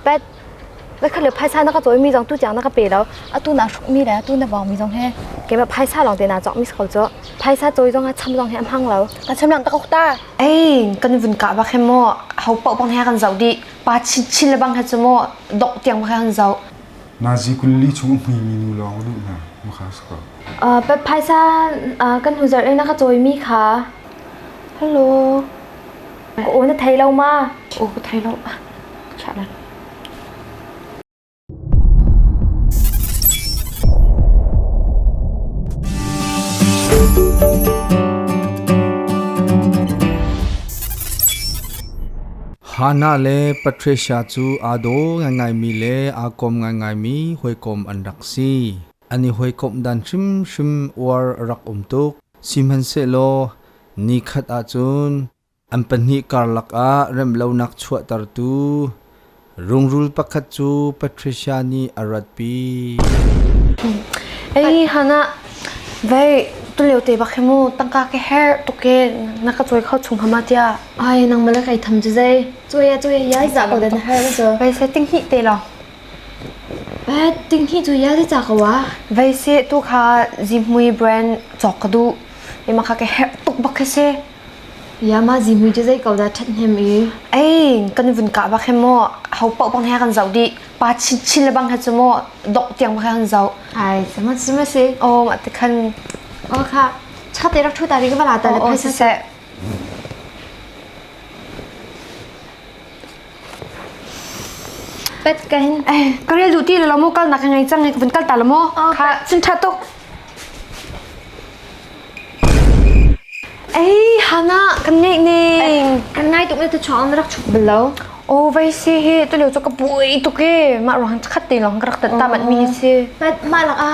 pet na khale phaisa na ka chawimi zong tu tiang na ka pe lo atu na hrukmi le atu na vawngmi zong he kema phaisa lawng te na chok mis ko chu phaisa chawi zong a cham zong he hmang lo kan cham lang takok ta ei kan vun ka ba khe mo hau pau bang he kan zau di pa chin chin le bang he chu mo dok tiang ba kan zau nazi kulli chung hmui mi nu lawng lu na mu kha sko uh pet phaisa uh, kan huzar e na ka chawimi kha hello Ka aw na thei lo ma? Aw ka thei lo. Shut up. Hannah le Patricia cu aa daw ngaingaimi le aa kawm ngaingaimi hawikom an rak si. An i hawikomh dan hrimhrim uar a rak um tuk. Sihmanhsehlaw ni khat ah cun an pahnih karlak ah remlonak chuahtertu rungrul pakhat cu Patricia nih a ratpi. Ei Hannah, vei tulio te bak hi mu tangka ka her tuk e na ka cawi kho chung hama tiah ai nang malak ei tham cu zei cuya cuya yai za ko den her na cu vei setting hi te lo Pet, tinghi cu ya le ca ko a. Veise tu kha zimhmui brand cawk ka duh. Ima kha ka herh tuk bak khi si. Ya ma zimhmui cu zei ko dah that hnem i. Ei, kan vun ka bak he mo. Hau pau bang he kan zau di. Pa chin chin le bang he cu mo. Dok tiang bak he kan zau. Ai, sama sama si. O, ma te khan. O kha. Cha te rak thu ta ri ka bala ta le. O, sise. Pet ka hin. Ka rel duh ti lo lamu kal nak ka ngei cang ka vun kal ta lamu. Kha chin tha tuk. Ei hana kan ngei ne. Kan ngai tuk ne tu chong na rak chuk bel lo. O vai si he tu leo cho ka bui tuk e ma rohang chakhat te long ka rak tat ta mat mi hi si. Pet ma lak a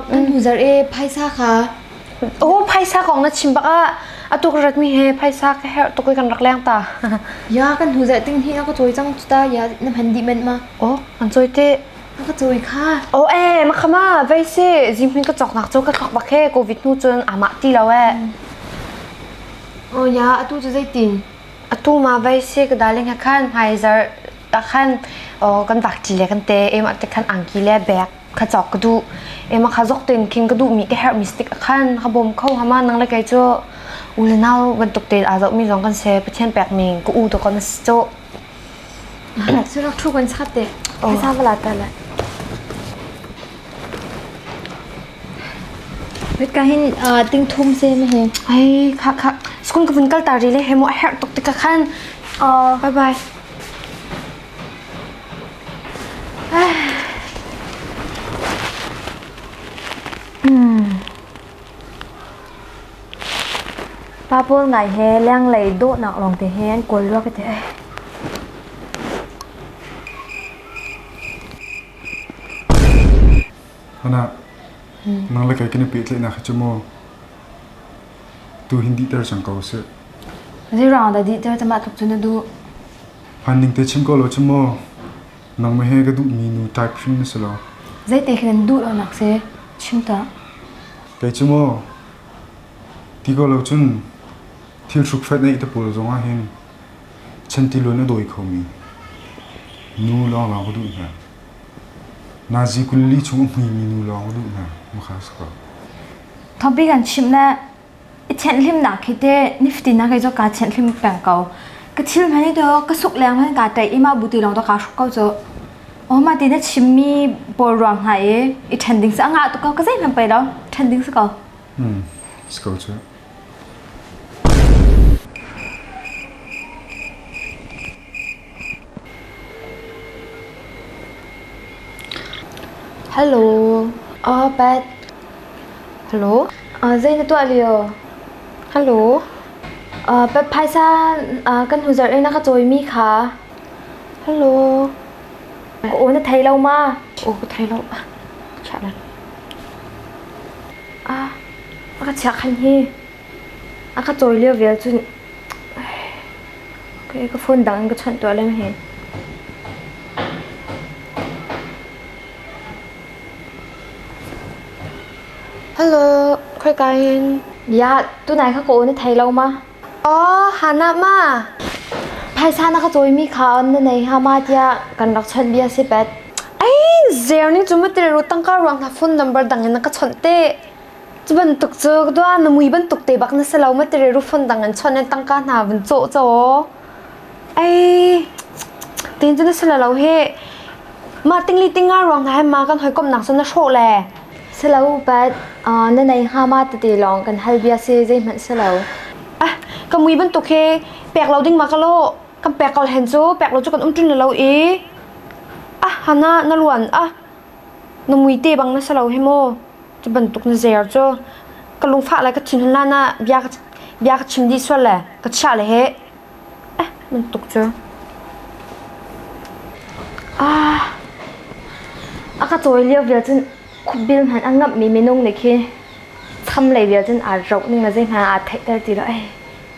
bu jar e phaisa kha. Aho phaisa kong na chim bak ah atuk ratmi he phaisa ka herh tuk i kan rak leng ta. Ya kan hu zai ting hi ako choi chang tu ta ya na man di men ma. Oh an choi te. Ka choi kha. Oh eh makhama vai se jimhin ka chok nak cho ka thok bak he covid nu chun ama ti lo eh. Oh ya atu chu zai tin. Atu ma vai se ka darling ha khan hmaizar ta khan oh kan bak ti le kan te em ate khan angki le bag kha cawk ka duh ema kha zok ten king ka duh mi ka herh mi stick khan kha bom kho hama nang le kai chu u le nau bantuk te a zok mi zong kan se pathian pek ning ka u to kon cho sura thu kan sa te ka sa bala ta la Wait kahin ting thum se me he. Ai kha kha school ka vun kal ta ri le hemo her tok te ka khan. Bye bye. Pa pawl ngai he lenglei dawhnak lawng te he an kawl rua ka ti ai. Hana, nang le kei kene pe tle na kha chu mo tu hindi ter sang ko se. Zirang da di ter tama tluk chu na du. Hman ning te chim ko lo cu maw. Nangmah he ka duhmi nu type hrim na si lo. Zeite khi nan duh lonak se chim ta. Kei cu maw ti ko lo cun thil hrukhret neih te pawl zong ah hin chantiluan a dawi kho mi nu lawnglawng ka duh hna. Nazi kul li chung a hmui mi nu lawng ka duh hna. Makha sa ko. Topic an chim na I thianhlimnak hi teh niftin ah kei cu kaa thianhlim peng ko. Ka thil hmani tu ka suk leng hmani kaa tei i mah buti lawng tu kaa hruk ko cu. O ma ti na chimmi pawl ruang hna i i ṭhen ding si a ngah tuk ko ka zeihmanh pei lo ṭhen ding si ko. Hmm. Let's go to it. Zei na tuah lio? Phaisa kan hu zarh i na ka cawimi kha. Aw na thei lo ma? Aw ka thei lo. Ka chiah lan. A ka chiah khan hi. A ka cawi lio vial cun ka phone dang in ka chawnh tuah lem hi. Hello, khoika hin? Bia, tunai ka ko na thei lo ma? Oh, hana ma? Phaisa na ka cawimi kha on na nei ha ma tia kan rak chawnh bia si pet. Ai, zer ni cuma tile ru tangka ruang hna phone number dang in na ka chawnh te. Cu bantuk cu dua na mui bantuk te bak na si lo ma tire rufon dang an chawnh an tangka hna vun cawh caw. Ai tin cu na si lo he. Ma tingli tinga ruang hna he ma kan hoi kom nak sun na hrawh le. Si lo but na nei hnga ma tete lawng kan hal bia si zei hmanh si lo. Ah ka mui bantuk he pek lo ding ma ka lo kan pek kol hen cu pek lo cu kan um tling lo i ah hana na luan ah Na muite bang na si lo hi maw. Cu bantuk na zer cu. Ka lungfah le ka thinhun la na bia ka bia ka chim dih sual le ka chiah le he. Eh, bantuk cu. Ah, a ka tawi lio vial cun khupbil hmanh a ngamhmi minung nih khi tham lei vial cun aa roh ning le zei hmanh aa theihter ti lo. Eh.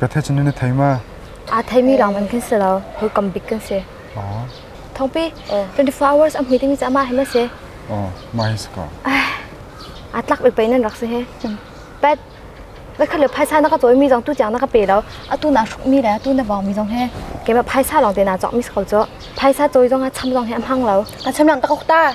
Ka the chin na thei ma? Aa theimi lang ban kan si lo. Hukam bik kan si. Thongpi, 24 hours am hui timi ca ma hema se. Ma hi saka. A tlak bik pai nan rak si he. Pet, na khat le phaisa na ka toy mi zong tu jang na ka pe lo. A tu na hruk mi le tu na vau mi zong he. Kema phaisa long te na chok mi sako cho. Phaisa toy zong ha cham zong he am hang lo. Ka cham lang takok ta.